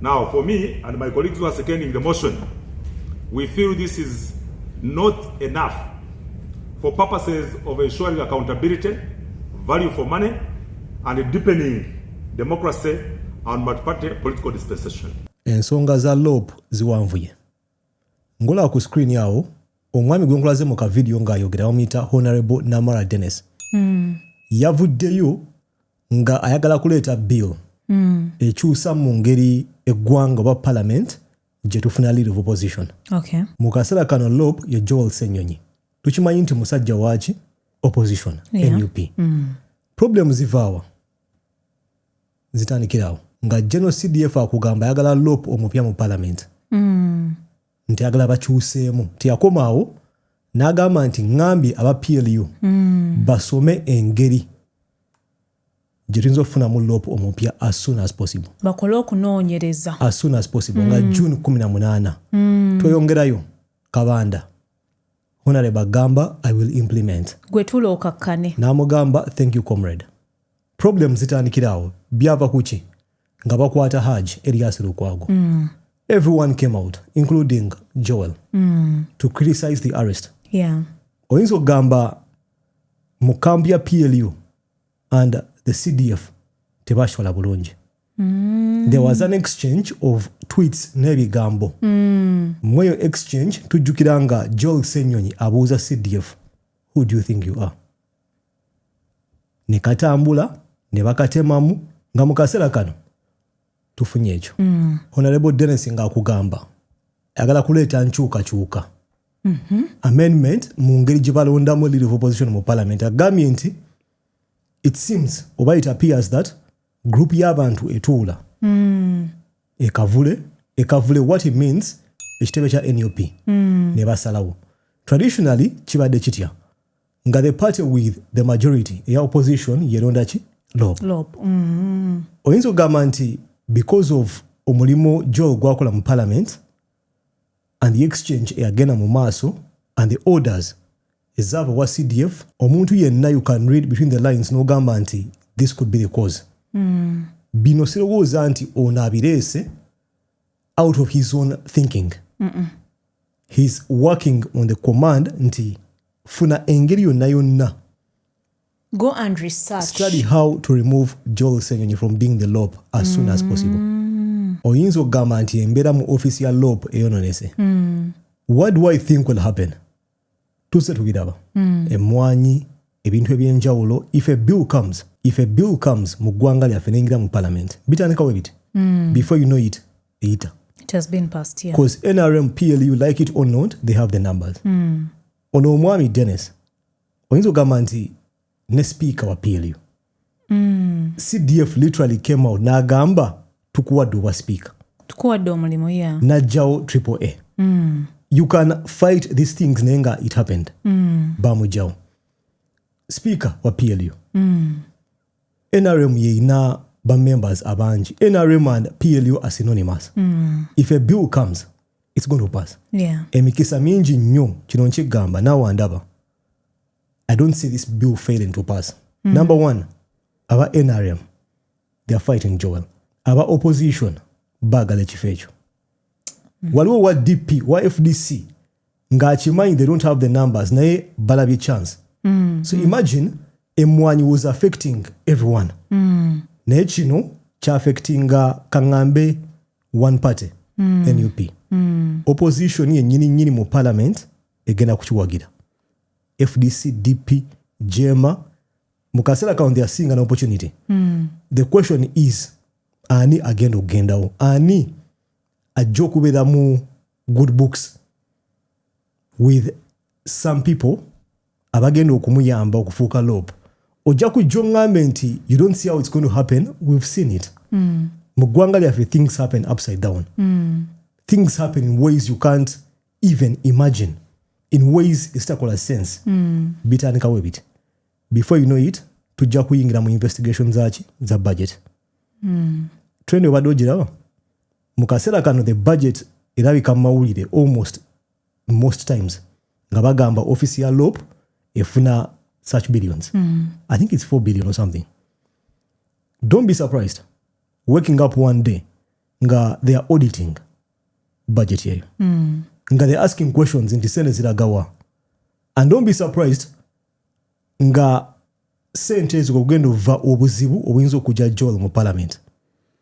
Now for me and my colleagues who are seconding the motion, we feel this is not enough for purposes of ensuring accountability, value for money and deepening democracy and multi-party political dispensation. Ensonga za LOP ziwanvuye. Ngola ku screen yawo omwami gwe nkulaze mu ka video ng'ayogera bamuyita Honorable Namara Dennis. Mm. Yavuddeyo nga ayagala kuleeta bill mm. ekyusa mu ngeri eggwanga oba parliament gyetufuna lead of opposition okay. mu kaseera kano lop ye joel senyonyi tukimanyi nti musajja waaki opposition yeah. nup mm. problem zivaawa zitandikirawo nga genocdf akugamba ayagala lop omupya mu parliament mm. nti agala bakyuseemu nti yakoma awo n'agamba nti ŋambye aba plu mm. basome engeri gye tuyinza okufunamu lop omupya as soon as possible bakole okunoonyereza as soon as possible mm. nga hmm. june 18 mm. tweyongerayo kabanda honore bagamba i will implement gwe tula okakkane n'amugamba thank you comrade problem zitandikira awo byava kuki nga bakwata haj elias lukwago mm. everyone came out including joel mm. to criticize the arrest yeah. oyinza okugamba mu kambi ya plu and the cdf tebashola bulungi mm. there was an exchange of tweets n'ebigambo mm. mweyo exchange tujjukira nga joel senyonyi abuuza cdf who do you think you are ne katambula ne bakatemamu nga mu kaseera kano tufunye ekyo mm. honarebo denis ngaakugamba ayagala kuleeta nkyukakyuka mm -hmm. amendment mu ngeri gye balondamu leader of opposition mu parliament agambye nti it seems oba it appears that group y'abantu etuula mm. ekavule ekavule what it means ekitebe kya nup mm. ne basalawo traditionally kibadde kitya nga the party with the majority eya opposition yeronda ki lob mm. oyinza okugamba nti because of omulimu gyo gwakola mu parliament and the exchange eyagenda mu maaso and the orders ezaava wa cdf omuntu yenna you can read between the lines n'ogamba nti this could be the cause mm. bino sirowooza nti ono abireese out of his own thinking mm -mm. he's working on the command nti funa engeri yonna yonna go and research study how to remove joel senyonyi from being the lop as soon as possible mm. oyinza okugamba nti embeera mu office ya lop eyononese mm. what do i think will happen tuzze tubiraba mm. emmwanyi ebintu ebyenjawulo if a bill comes if a bill comes mu ggwanga lyaffe neyingira mu parliament bitandikawo ebiti mm. before you know it eyita because yeah. nrm plu like it or not they have the numbers mm. ono omwami dennis oyinza ogamba nti ne sipiika wa plu mm. cdf literally came out n'agamba tukuwadde obwa sipiika tukuwadde omulimu ya najjawo triple a mm. you can fight these things naye nga it happened mm. bamujjawo sipiika wa plu mm. nrm yeina bamembers abangi nrm and plu are synonymous mm. if a bill comes it's going to pass yeah. emikisa mingi nnyo kino nkigamba nawe andaba i don't see this bill failing to pass mm. number one aba nrm they are fighting joel aba opposition baagala ekifo ekyo mm. waliwo wa dp wa fdc ng'akimanyi they don't have the numbers naye balabye chance mm. so imagine emwanyi was affecting everyone mm. naye kino kyaffectinga kaŋambe one party mm. nup mm. opposition yennyini nnyini mu parliament egenda kukiwagira fdc dp jema mu kaseera kano they are seeing an opportunity mm. the question is ani agenda okugendawo ani ajja okubeera mu good books with some people abagenda okumuyamba okufuuka lop ojja kujja oŋŋambe nti you don't see how it's going to happen we've seen it mm. mu ggwanga lyaffe things happen upside down mm. things happen in ways you can't even imagine in ways ezitakola sense mm. bitandikawo ebiti before you know it tujja kuyingira mu investigation zaki za budget mm. trend obadde ogiraba mu kaseera kano the budget erabika mu mawulire almost most times nga bagamba office ya lop efuna such billions mm. i think it's 4 billion or something don't be surprised waking up one day nga they are auditing budget eyo mm. nga they asking questions nti sente ziragawa and don't be surprised nga sente ezo okugenda ova obuzibu obuyinza okujja joel mu parliament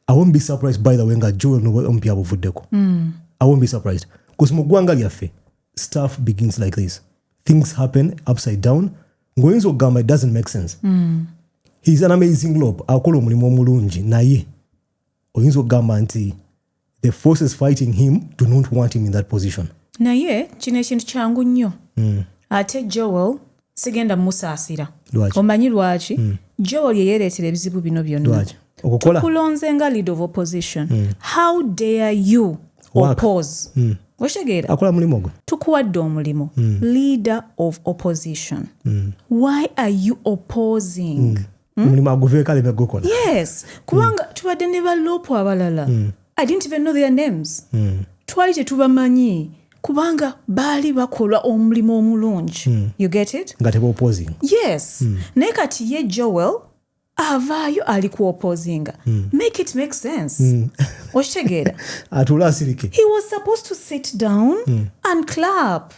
i won't be surprised by the way nga joel nomupi abuvuddeko mm. i won't be surprised bcause mu ggwanga lyaffe stuff begins like this things happen upside down ng'oyinza okugamba it doesn't make sense mm. heis an amazing lob akola omulimu omulungi naye oyinza okugamba nti the forces fighting him do not want him in that position naye kino ekintu kyangu nnyo mm. ate joel sigenda musaasira omanyi lwaki mm. joel yeyereetera ebizibu bino byonna tukulonze nga lead of opposition mm. how dare you oppose mm. okitegeera akola mulimu gwe tukuwadde omulimu mm. leader of opposition mm. why are you opposing mm. hmm? omulimu aguveeko aleme gukola yes kubanga hmm. tubadde ne baloopu abalala hmm. i didn't even know their names twali tetubamanyi kubanga baali bakola omulimu omulungi mm. you get it nga tebaoposing yes mm. naye kati ye joel avaayo ali ku oposinga mm. make it make sense mm. okitegeera atula asirike he was supposed to sit down mm. and clap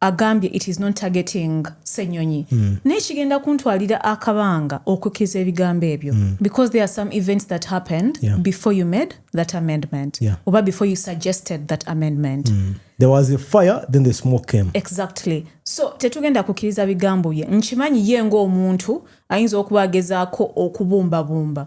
agambye it is not targeting senyonyi mm. naye kigenda kuntwalira akabanga okukiza ebigambo ebyo mm. because there are some events that happened yeah. before you made that amendment yeah. oba before you suggested that amendment mm. there was a fire then the smoke came exactly so tetugenda kukiriza bigambo bye nkimanyi ye ngaomuntu ayinza okuba agezaako okubumbabumba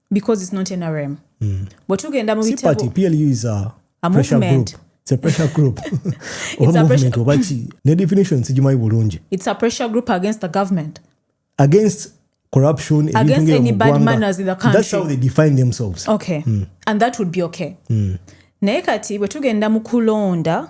because it's not nrm mm. bwe tugenda mu bitabo plu is a, a pressure movement. group it's a pressure group oba movement oba ki ne definition sigimanyi bulungi it's a pressure group against the government against corruption against any bad manners in the country that's how they define themselves okay mm. and that would be okay mm. naye kati bwe tugenda mu kulonda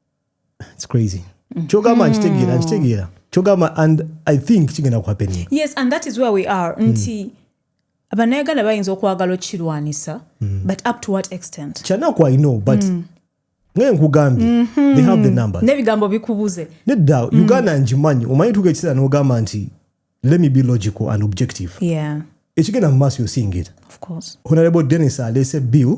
it's crazy kyogamba nkitegeera nkitegeera kyogamba and i think kigenda kuhappening yes and that is where we are hmm. nti mm. bannayuganda bayinza okwagala okukirwanisa mm. but up to what extent kyanaku i know but mm. naye nkugambye mm -hmm. they have the number nebigambo bikubuze nedda mm. uganda ngimanyi omanyi tuka ekiseera nogamba nti let me be logical and objective yeah. ekigenda mu maaso yosingira honorable denis alese bill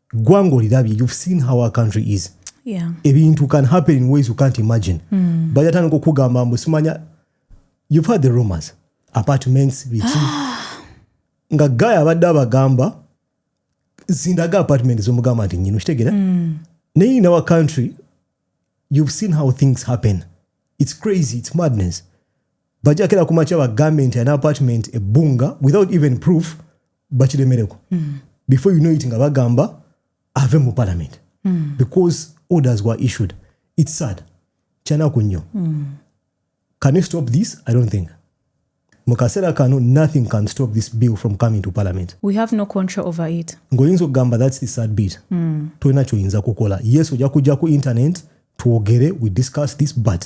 ggwanga olirabye you've seen how our country is yeah. ebintu can happen in ways you can't imagine mm. bajatandika okugamba mbu simanya you've had the rumors apartments biki nga guy abadde abagamba zindaga apartment zomugamba nti nyino kitegera mm. naye in our country you've seen how things happen it's crazy it's madness bajja kera kumakya bagambe nti an apartment ebbunga without even proof bakiremereko mm. before you know it nga bagamba ave mu parliament mm. because orders were issued it's sad kyanaku nnyo mm. can you stop this i don't think mukaseera kano nothing can stop this bill from coming to parliament we have no control over it ng'oyinza okugamba that's the sad bit mm. tolina kyoyinza kukola yes ojja kujja ku internet twogere we discuss this but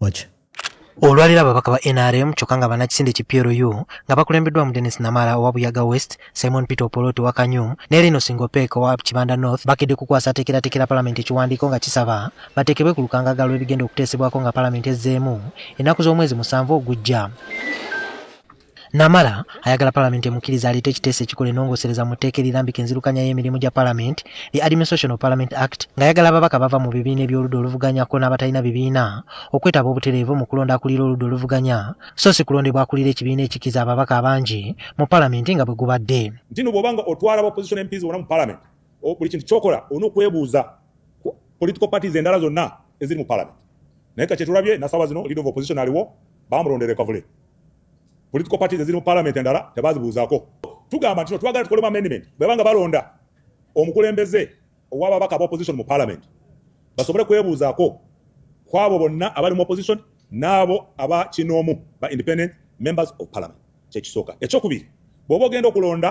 waki olwaliro ababaka ba nrm kyokka nga banakisinde ki plu nga bakulembeddwamu denis namala owa buyaga west simon peter opolot owa kanyum ne lino singopek owa kibanda north bakedde kukwasa ateekerateekera palamenti ekiwandiiko nga kisaba bateekebwe ku lukangaga lw'ebigenda okuteesebwako nga palamenti ezzeemu ennaku z'omwezi musanvu ogujja Namara ayagala palamenti emukkirize aleete ekiteeso ekikola enongosereza mu tteeka erirambika enzirukanya y'emirimu gya palamenti li Administration of Parliament Act ng'ayagala ababaka bava mu bibiina eby'oludda oluvuganya kko n'abatalina bibiina okwetaba obutereevu mu kulonda akulira oludda oluvuganya so si kulondebwa akulira ekibiina ekikkiza ababaka abangi mu palamenti nga bwe gubadde nti no bw'oba nga otwala ba opposition MPs bona mu palamenti buli kintu kyokola olina okwebuuza ku political parties endala zonna eziri mu palamenti naye ka kyetulabye nasawa zino leader of opposition aliwo bamulondera ekavule political parties eziri mu parliament endala tebazibuuzako tugamba nti twagala tukolemu amendment bwebanga balonda omukulembeze owababaka aba opposition mu parliament basobole kwebuuzaako kwabo bonna abali mu opposition n'abo aba kinoomu ba independent members of parliament kyekisooka ekyokubiri bwoba ogenda okulonda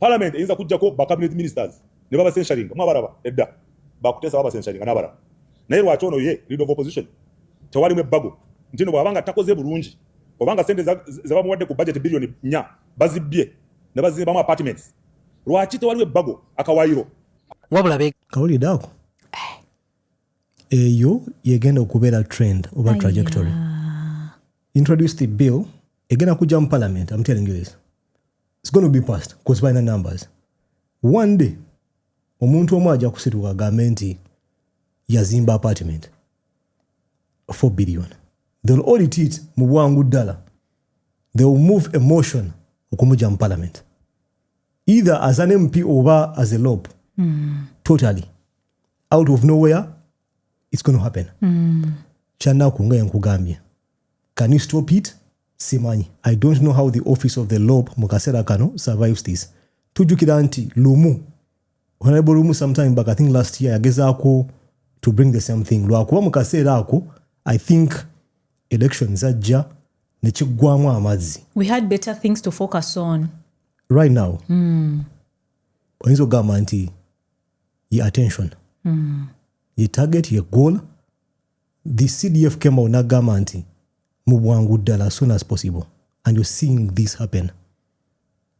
Parliament eyinza kujjako ba cabinet ministers ne baba censuring mwa baraba edda bakutesa baba censuring na baraba naye lwaki ono ye leader of opposition tewali mwe bago ntino bwabanga takoze bulungi obanga sente zabamuwadde ku budget billion 4 bazibbye ne bazimbamu apartments lwaki tewaliwo ebbago akawayiro wabula be kawulidde ako eh. eyo yegenda okubeera trend oba trajectory introduce the bill egenda kujja mu parliament am telling you this it's gonna be past cause balina numbers one day omuntu omu ajja kusituka agambe nti yazimba apartment 4 billion they'll audit it mu bwangu ddala they will move a motion okumuja mu parliament either as an mp oba as a lob mm. totally out of nowhere it's going to happen mm. kyanaku nga yankugambye can you stop it simanyi i don't know how the office of the lob mu kaseera kano survives this tujjukira nti lumu honorable lumu sometime back i think last year yagezaako to bring the same thing lwakuba mu kaseera ako i think election zajja nekiggwamu amazzi we had better things to focus on right now mm. oyinza okugamba nti ye attention mm. ye target ye goal The CDF came out nagamba nti mu bwangu ddala as soon as possible and you're seeing this happen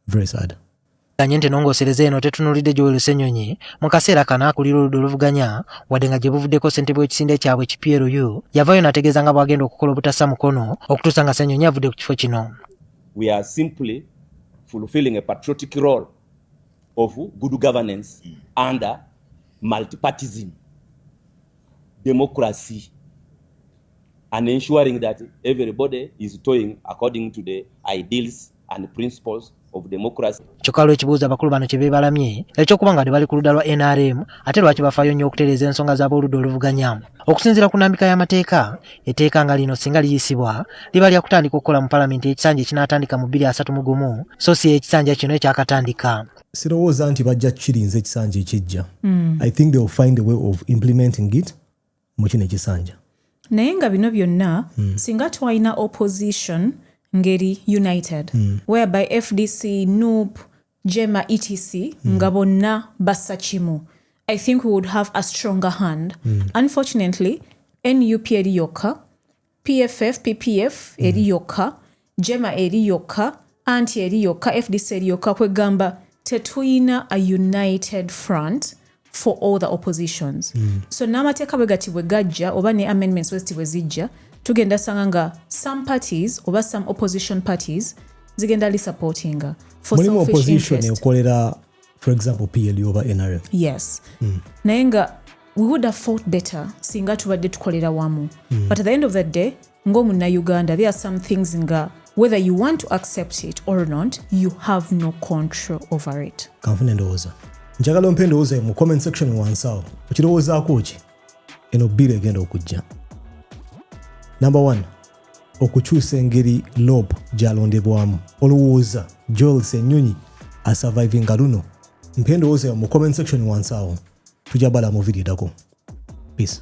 very sad ganye nti nongosereza eno tetunulidde Joel Senyonyi mu kaseera kano akulira oludda oluvuganya wadde nga gye buvuddeko ssentebe w'ekisinde kyabwe ki PLU yavaayo nategeeza nga bwagenda okukola obutassa mukono okutuusa nga Senyonyi avudde ku kifo kino We are simply fulfilling a patriotic role of good governance under multipartism. democracy and ensuring that everybody is toying according to the ideals and principles of democracy. Kyokka lw'ekibuuzo abakulu bano kye beebalamye eky'okuba nga bali ku ludda lwa NRM ate lwaki bafaayo nnyo okutereeza ensonga z'ab'oludda oluvuganya. Okusinziira ku nnambika y'amateeka, etteeka nga lino singa liyisibwa liba lya kutandika okukola mu palamenti ekisanja ekinaatandika mu bbiri asatu mu gumu so si ekisanja kino ekyakatandika. sirowooza nti bajja kukirinza ekisanja ekijja mm. i think they will find a way of implementing it mu kino ekisanja naye nga bino byonna mm. singa twalina opposition ngeri united mm. whereby fdc nup jema etc mm. nga bonna bassa kimu i think we would have a stronger hand mm. unfortunately nup eri yokka PFF, PPF eri mm. yokka, Jema eri yokka, anti eri yokka, FDC eri yokka kwegamba tetuyina a united front for all the oppositions. Mm. So n'amateeka bwe gati bwe gajja oba ne amendments westi bwe zijja tugenda sanga nga some parties oba some opposition parties zigenda lisupportinga for selfish interest. Mulimu opposition ekolera for example plu oba nrm yes mm. naye nga we would have fought better singa tubadde tukolera wamu mm. but at the end of the day ng'omunnauganda there are some things nga whether you want to accept it or not you have no control over it kanfuna endowooza njagala ompa endowooza mu comment section wansawo okirowoozaako ki eno bbiri egenda okujja number one okukyusa engeri lob gyalondebwamu olowooza joel senyonyi asurvivinga luno mpa endowooza yo mu comment section wansi awo tujja bala mu video edako peace